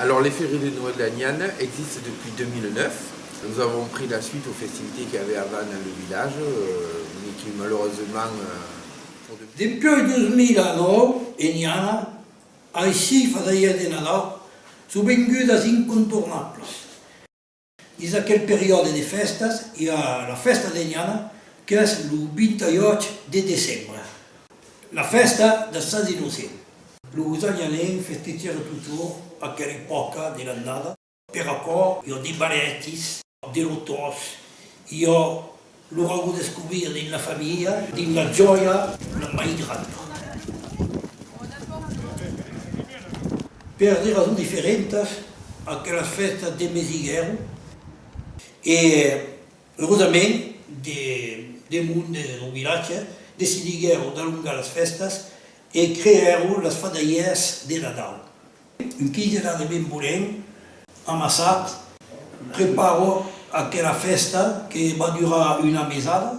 Alors les ferries de Noël d'Aniane existent depuis 2009. Nous avons pris la suite aux festivités qu'il y avait avant dans le village mais qui malheureusement pour de. Dempuèi 2009 Eniana aicí fasèia de Nadal sovengudas incontornablas. Dins aquel periòde de fèstas i a la fèsta d'Enhana qu'es lo 28 de decembre, la fèsta dels Sants Innocents. Los Enhanencs festejèron totjorn aquela epòca de l'annada. Per aquò, i a de balètis, de lotòs, i a Lo ròbo descobrir dins la familha, dins la jòia, la mai granda. Per de rasons diferentas, aquelas fèstas de mes higuèron e, eusament, de mon lo vilatge decidiguèron d'alongar las fèstas e creèron las fadalhièrs de Nadal. Un quilhera de vin bolent amassat preparo aquela fèsta que va durar una mesada.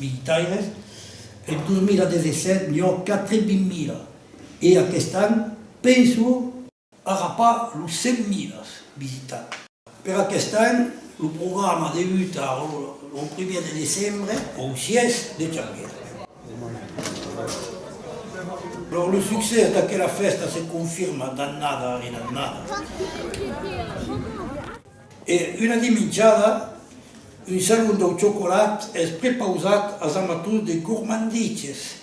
militaires, en 2017 n'i ò 80.000 e aquest an penso. Ara pas los 100.000 visitats. Per aquest an lo programa debuta lo primièr de decembre au siège de Xanguera. Lors lo succès d'aquela fèsta se confirma d'annada en annada. E una dimenjada, un salon dau chocolat es prepausat as amators de gormandiches.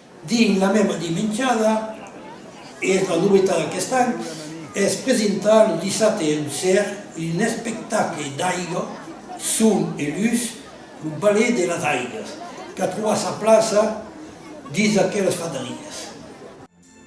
Dins la mèma dimenjada, e es la novetat d'aquest an, es presentar lo dissabte en ser un espectacle d'aiga, son e lutz, lo Ballet de las Aigas, qu'a trovat sa plaça dins aquelas fadariás.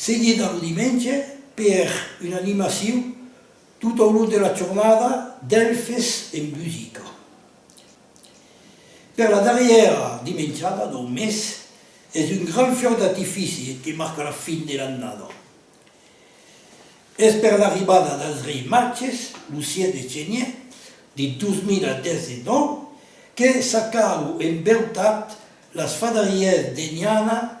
Seguit amb dimenge per una animacion tot au long de la jornada d'Elfes en Busica. Per la darrièra dimenjada dau mes es un grand fiòc d'artifici que marca la fin de l'annada. Es per l'arribada dels Reis Matges, lo 7 de genièr de 2019, que s'acau en beutat las fadarièrs d'Eniana,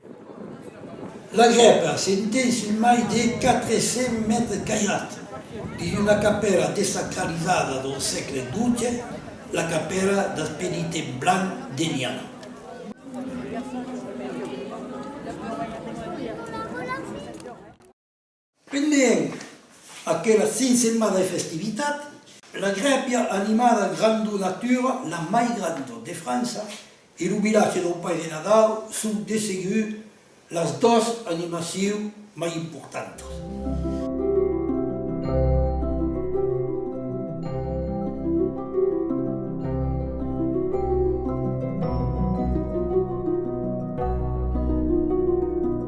La grèpa s'entén sus mai de 400 mètres cairats. Dins una capèla desacralizada del sègle xii, la capèla dels Penitents Blancs d'Enhiam. Pendent aquela fin setmana de festivitat, la grèpia animada Grandor Natura, la mai granda de França, e lo vilatge del Paire Nadal son de segur las dos animacions mai importantas.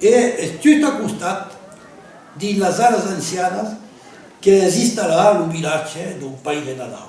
E es just a costat, dins las aras ancianas, qu'es installat lo vilatge dau Pair de Nadau.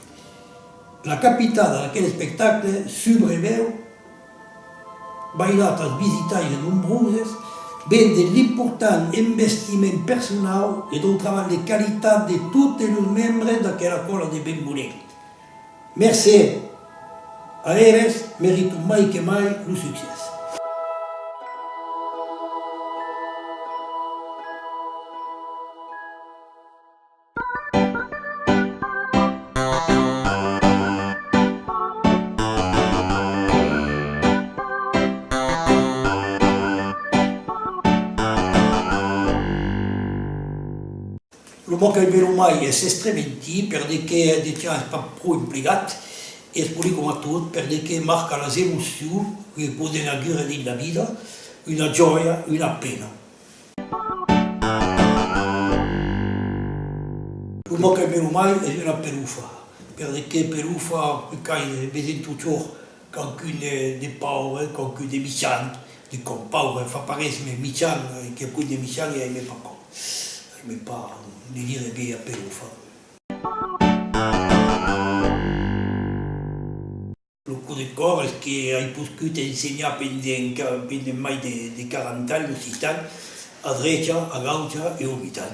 La capitada d'aquel espectacle subreveut bailat als visitaires nombroses ven de l'important envestiment personau e dau trabalh de qualitat de totes los membres d'aquela còla de ben bonèt. Mercé a eles merito mai que mai lo succès. Lo mot qu'ai besonh mai es estrementi, per de qué eth de tian es pas pro emplegat, e es poli coma tot, per de qué marca las emocions que poden aguer dins la vida, una jòia, una pena. Lo mot qu'aimè lo mai es una perufa, per de qué perufa que qu'ai vesen totjorn quauqu'un de pauvre, quauqu'un de michant, de com pauvre fa parés, mes michant, quauqu'un de michant e aimè pas com, aimè pas de dire vièlha perufa. Lo coup de còr es que ai poscut ensenhar pendent mai de 40 ans l'occitan a drecha, a gaucha e au mitan.